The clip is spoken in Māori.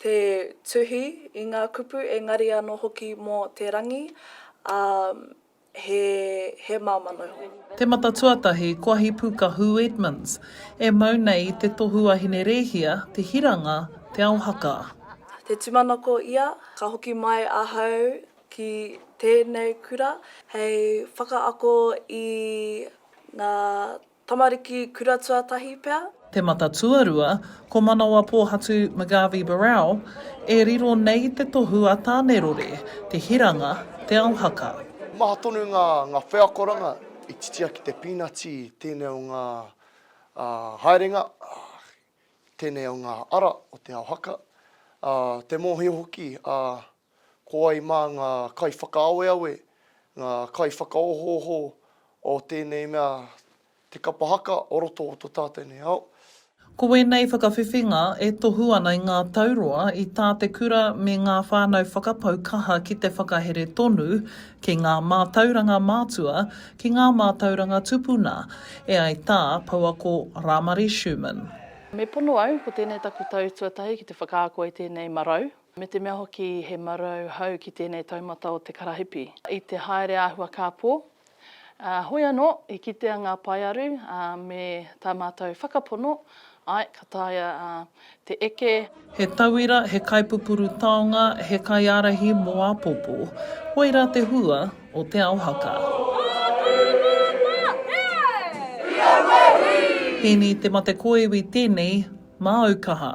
te tuhi i ngā kupu engari anō hoki mō te rangi, ā, he, he māmā noho. Te mata tuatahi, ko Ahipuka Hū Edmonds, e mau nei i te tohu a Hinerēhia, Te Hiranga, Te Ao Haka. Te tūmanako ia, ka hoki mai ahau ki tēnei kura hei whakaako i ngā Tamariki kura tuatahi pea. Te Mata Tuarua, ko Manawapōhatu McGarvey Barrell, e riro nei te tohu a Tānerore, Te Hiranga, Te Ao Haka. Maha tonu ngā wheakoranga i titia ki te pīnati i tēnei o ngā haerenga, tēnei o ngā ara o Te Ao Haka. Te mōhio hoki a Ko wai mā ngā kaiwhakaaweawe, ngā kaiwhakaohooho o tēnei mea te kapa haka o roto o tō tātou nei ao? Ko wēnei whakawhiwhinga e tohu ana i ngā tau roa i tā te kura me ngā whānau whakapau kaha ki te whakahere tonu ki ngā mātauranga mātua, ki ngā mātauranga tupuna, e ai tā Pouako Rāmari Schuman. Me pono au, ko tēnei taku tau tuatahi ki te whakaako i tēnei marau, me te mea hoki he marau hau ki tēnei taumata o te karahipi. I te haere āhua kāpō, hoi anō i kitea ngā paearu me tā mātou whakapono, āe, ka taea te eke. He tauira, he kaipupuru taonga, he kaiārahi mō āpōpō. Whoi rā te hua o Te Ao Haka. Hēni Te Mate Kōiwi tēnei, māu kaha.